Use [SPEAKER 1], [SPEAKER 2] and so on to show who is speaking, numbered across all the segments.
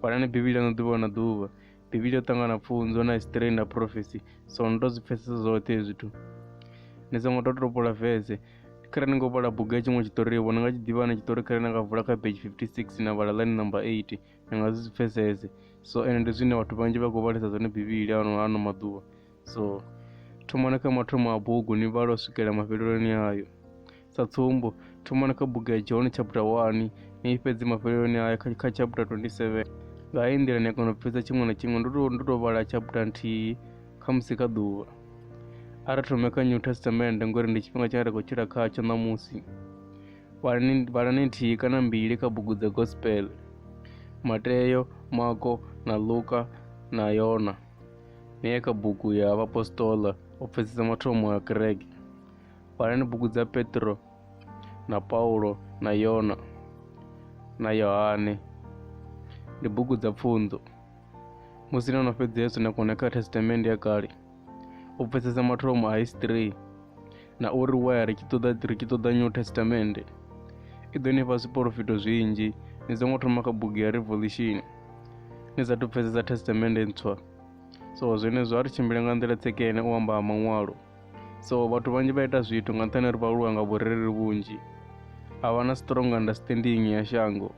[SPEAKER 1] vhalani bivhili ano ḓuvha na ḓuvha bivhili yo ṱangana pfunzo na history na prophecy so ni to zwi pfesesa zwoṱhe hezwi zwithu ni songo to topola vese khare ni ngo vhala bugu ya tshiṅwe tshiṱori vho ni nga tshi ḓivha na tshiṱori khare na nga vula kha page 56 na vhala line number 8 ni nga zwi pfesese so ende ndi zwine vhathu vhanzhi vha khou vhalisa zwone bivhili ano ano maḓuvha so thomani kha mathomo a bugu ni vhala u swikela mafheleloni ayo sa tsumbo thomani kha bugu ya john chapter 1 ni i fhedzi mafheleloni ayo kha, kha chapter 27 nga heyi nḓila ni a kona u pfhisa tshiṅwe na tshiṅwe ndo to- ndo to vhala chapter nthihi kha musi kha ḓuvha a ri thome kha new testament ngori ndi tshifhinga tshine ra khou tshila khatsho ṋamusi vhalani vhalani nthihi kana mbili kha bugu dza gospel mateyo mako na luka na yona neye kha bugu ya vhapostola o pfesesa mathomo ya kereke vhalani bugu dza petro na paulo na yona na yohane ndi bugu dza pfunzo musi no no fhedza yesu na kone kha testamente ya kale u pfesesa mathomo a history na uri waya ri tshi ṱoḓa ri tshi ṱoḓa new testament i ḓo ni fha zwiporofito zwinzhi ni songo thoma kha bugu ya revolution ni sa pfesesa testament ntswa so zwenezwo a ri tshimbile nga nḓila tsekene u amba ha maṅwalo so vhathu vhanzhi vha ita zwithu nga nṱhani ri vha lwa nga vhurereli vhunzhi a vha na strong understanding ya shango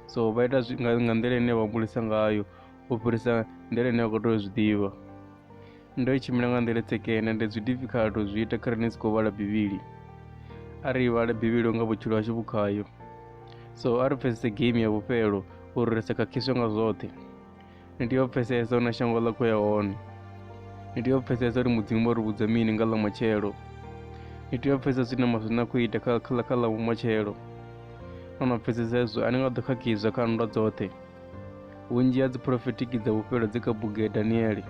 [SPEAKER 1] so vha ita nga nḓila ine vha humbulisa ngayo u fhirisa nḓila ine vha khou tea u zwi ḓivha Ndo i tshimbila nga nḓila tsekene ndi zwi difficult u zwi ita kha ri ni si khou vhala bivhili a ri vhale bivhili nga vhutshilo hashu vhu khayo so a ri pfhesese game ya vhufhelo uri ri sa khakhiswe nga zwoṱhe ni tea u pfhesesa hu na shango ḽa khou ya hone ni tea u pfhesesa uri mudzimu vho ri vhudza mini nga ḽa matshelo ni tea u pfhesesa zwine ma zwine a khou ita kha kha kha ḽa matshelo no no pfhesesa hezwo a ni nga ḓo khakhiswa kha nndwa dzoṱhe vhunzhi ha dzi phurofitikhi dza vhufhelo dzi kha bugu ya daniele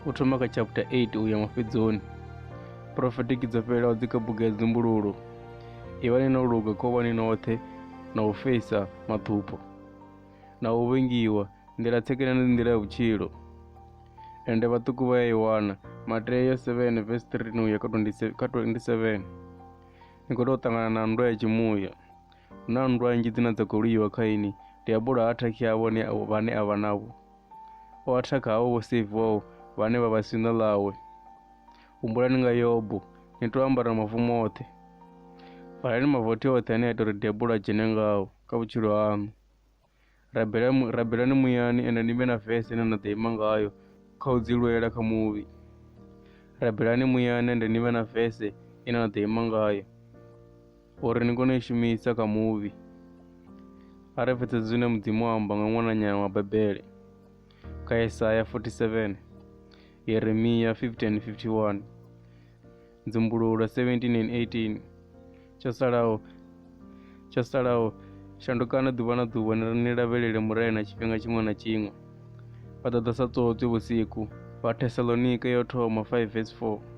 [SPEAKER 1] u thoma kha chapter 8 u ya mafhedzoni phurofitikhi dzo fhelelaho dzi kha bugu ya dzimbululo ivhani no luga khovhani noṱhe na u fesa mathupho na u vhengiwa nḓila tsekene ndi nḓila ya vhutshilo ende vhaṱuku vha ya i wana mateyo 7 vesi 3 no ya kha 27 ni khou tou ṱangana na nndwa ya tshimuya Hu na nndwa nnzhi dzine dza khou lwiwa kha ini. Diabolo ha athakhi havho vhane a vha navho. O athakha havho vho seiviwaho vhane vha vha siṋa ḽawe. Humbulani nga Yobo, ni tou ambara mavu moṱhe. Valani mavothi oṱhe ane a ita uri diabolo a dzhene ngao kha vhutshilo haṋu. rabela mu, rabelani muyani ende ni vhe na vese ine na ḓo ima ngayo kha u dzi lwela kha muvhi rabelani muyani ende ni vhe na vese ine na ḓo ima ngayo uri ni kone u i shumisa kha muvhi a re pfetsetse zwine mudzimu amba nga ṅwananyana wa bebele kha yesaya 47 yeremiya 15 51 Dzumbululo 17 and 18 tsho salaho tsho salaho shandukani ḓuvha na ḓuvha ni lavhelele murena tshifhinga tshiṅwe na tshiṅwe vha ḓo ḓa sa tsotswi vhusiku vha thesalonika yo thoma 5 vs 4